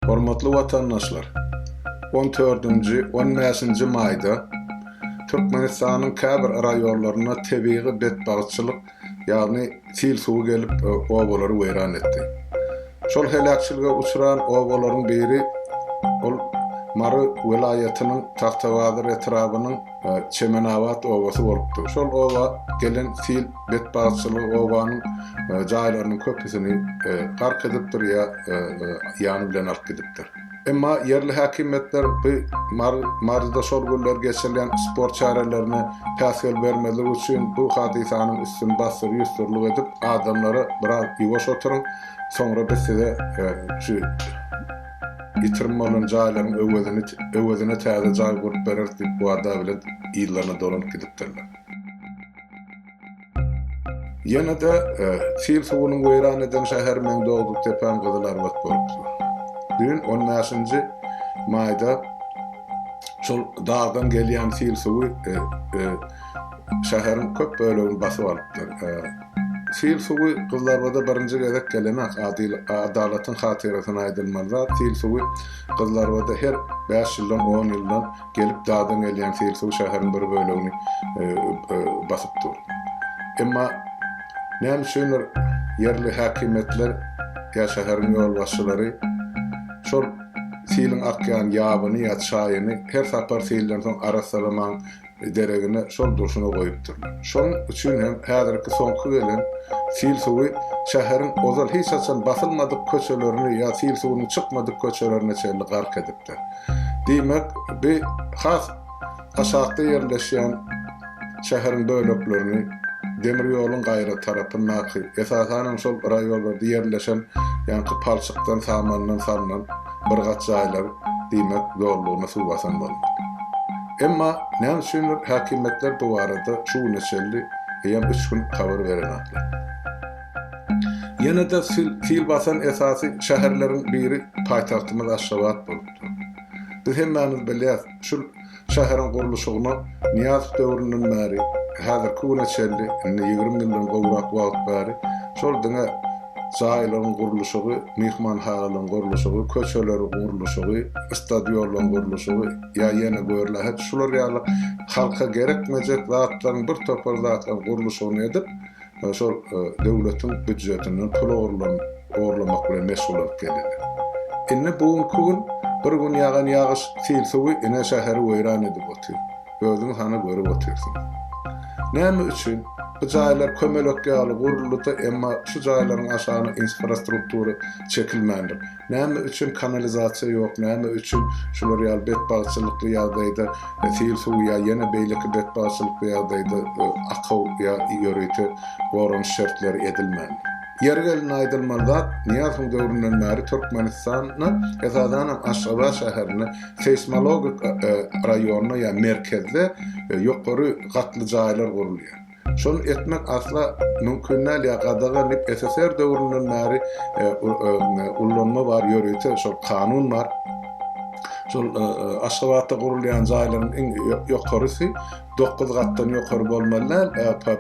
Hormatly watandaşlar! On dördünji, on bäşinji maýda Türkmenistanyň käbir raýonlarynda tebigy betbagtçylyk, ýagny sil suwy gelip, obalary weýran etdi. Şol heläkçilige uçran obalaryň biri, ol Mary welaýatynyň Tagtabazar etrabynyň Çemenabat obasy bolupdyr. Şol oba gelen sil betbagtçylygy obanyň jaýlarynyň köpüsini gark edipdir ýa ýany bilen alyp gidipdir. Emma ýerli häkimiýetler bu Maryda şol günler geçirilýän sport çärelerine päsgel bermezlik üçin bu hadysanyň üstüni bassyr-ýussurlyk edip adamlara biraz ýuwaş oturyň, soňra biz size şu Ýitirim bolan jaýlaryň öwezini öwezine täze jaý gurup bereris diýip wada bilen yllaryna dolanyp gidipdirler. Ýene-de sil suwunyň weýran eden şäher meň dogduk depäm Gyzylarbat bolupdyr. Düýn on bäşinji maýda şol dagdan gelýän sil suwy şäheriň köp bölegini basyp alypdyr. Sil suwy Gyzlarbada birinji gezek gelenak adyl adalatyň hatyrasyna aýdylmaly zat sil suwy Gyzlarbada her bäş ýyldan on ýyldan gelip dadan gelýän sil suwy şäheriň bir bölegini basyp dur emma näme üçindir ýerli häkimiýetler ýa şäheriň ýolbaşçylary şol siliň akýan ýabyny ýa çaýyny her sapar silden soň arassalaman deregine şol durşuna goýupdyrlar. Şonuň üçin hem häzirki soňky gelen sil suwy şäheriň ozal hiç haçan basylmadyk köçelerini ýa sil suwunyň çykmadyk köçelerine çenli gark edipdir. Diýmek, bi has aşakda ýerleşýän şäheriň böleklerini demir ýoluň gaýra tarapyndaky, esasan hem şol raýollarda ýerleşen ýaňky palçykdan, samandan salnan birgat jaýlar diýmek zorlugyna suw basan bolmaly. Emma näme üçindir häkimiýetler bu barada şu güne çenli eýýäm üç gün habar berenoklar. Ýene-de sil basan esasy şäherleriň biri paýtagtymyz Aşgabat bolup dur. Biz hemmämiz bilýäs, şul şäheriň gurluşygyna Nyýazow döwründen bäri, häzirki güne çenli, indi ýigrimi ýyldan gowrak wagt bäri şol diňe jaýlaryň gurluşygy, myhmanhagalaryň gurluşygy, köçeleriň gurluşygy, stadionlaryň gurluşygy, Ýa ýene görle, hut şular ýaly halka gerekmejek zatlaryň, bir topar zatlaryň gurluşygyny edip, şol döwletiň býudjetinden pul ogurlanyp, ogurlamak bilen meşgul bolup gelýärler. Indi bu günki gün, bir gün ýagan ýagyş, sil suwy ine şäheri weýran edip otyr. Özüňiz hany görüp otyrsyňyz. Näme üçin? Bu jaýlar kömelek ýaly guruldy-da, emma şu jaýlaryň aşagyna infrastruktura çekilmändir. Näme üçin kanalizasiýa ýok, näme üçin şular ýaly betbagtçylykly ýagdaýda sil suwy ýa ýene beýleki betbagtçylykly ýagdaýda akaw ýa ýörite goranyş şertleri edilmän? Ýeri gelende aýdylmaly zat, Nyýazowyň döwründen bäri Türkmenistanda, esasan hem Aşgabat şäherinde seýsmologik raýonda ýa merkezde ýokary gatly jaýlar gurulýar. Şony etmek asla mümkin däl ýa gadagan dip SSR döwründen bäri ullanma bar ýörite şol kanun bar. Şol Aşgabatda gurulýan jaýlaryň iň ýokarysy dokuz gatdan ýokary bolmaly däl,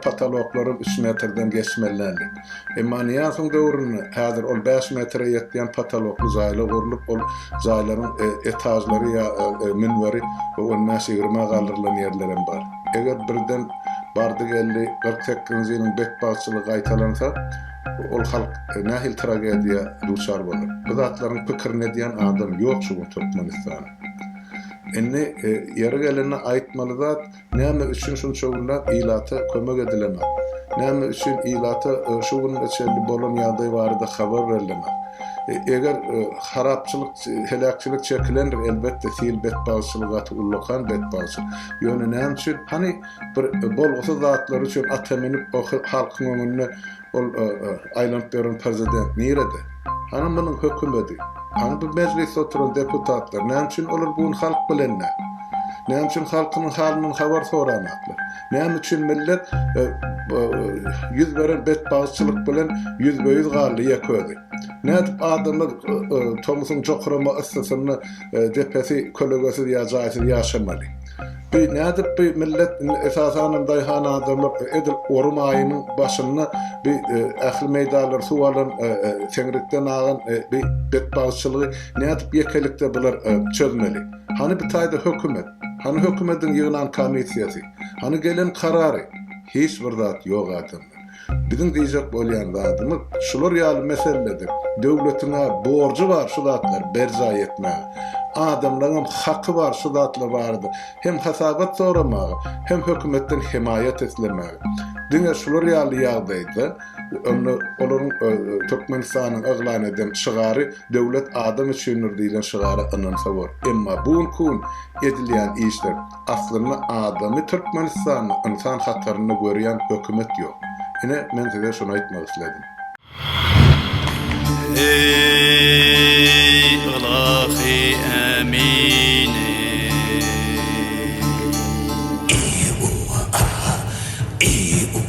pataloklaram üç metrden geçmeli däl dip. Emma Nyýazowyň döwründe häzir ol bäş metre ýetýän patalokly jaýlar gurlup ol jaýlaryň etažlary ýa münberi on bäş ýigrimi galdyrlan ýerlerem bar. Eger birden bardy-geldi kyrk sekizinji ýylyň betbagtçylygy gaýtalansa, ol halk nähili tragediýa duçar bolar? Bu zatlaryň pikirini edýän adam ýok şu gün Türkmenistanda. Indi ýeri gelende aýtmaly zat, näme üçin şunça günläp ilata kömek edilenok? Näme üçin ilata şu gününe çenli bolan ýagdaý barada habar berlenok? Eger harapçylyk Heläkçilik çekilendir, elbetde, sil betbagtçylygy gaty ullakan betbagtçylyk. Ýöne näme üçin? Hany, bir bolgusyz zatlar üçin ata münüp, o halkyň öňünde ol aýlanyp ýören prezident nirede? Hany munuň hökümedi? Hany bu mejlisde oturan deputatlar? Näme üçin olar bu gün halk bilen däl? Näme üçin halkynyň halyndan habar soranoklar? Näme üçin millet ýüz beren betbagtçylyk bilen ýüzbe-ýüz galdy ýek özi? Nädip adamlar tomusyň jokrama yssysynda depesi kölegesiz ýa jaýsyz ýaşamaly? Bi nädip bi millet indi esasanam daýhan adamlar edil ory maýynyň başynda bi ähli meýdanlary suw alan seňrikden agan bi betbagtçylygy nädip ýekelikde bular çözmeli? Hany bi taýda hökümet? Hany hökümediň ýygnan komissiýasy? Hany gelen karary? Hiç bir zat ýok adamlar. Biziň diýjek bolýan zadymyz şular ýaly meseledir. Döwletiň-ä borjy bar şu zatlary berjaý etmäge. Adamlaryňam haky bar şu zatlar barada hem hasabat soramaga, hem hökümetden hemaýat islemäge. Diňe şular ýaly ýagdaýda onda olaryň Türkmenistanyň yglan eden şygary Döwlet adam üçindir diýlen şygara ynansa bor. Emma bu günki gün edilýän işler Aslynda adamy Türkmenistanda ynsan hatarynda görýän hökümet ýok. Ine men size şuny aýtmak isledim. Eý ylahy ämini. Iiuuaa iiuuaa.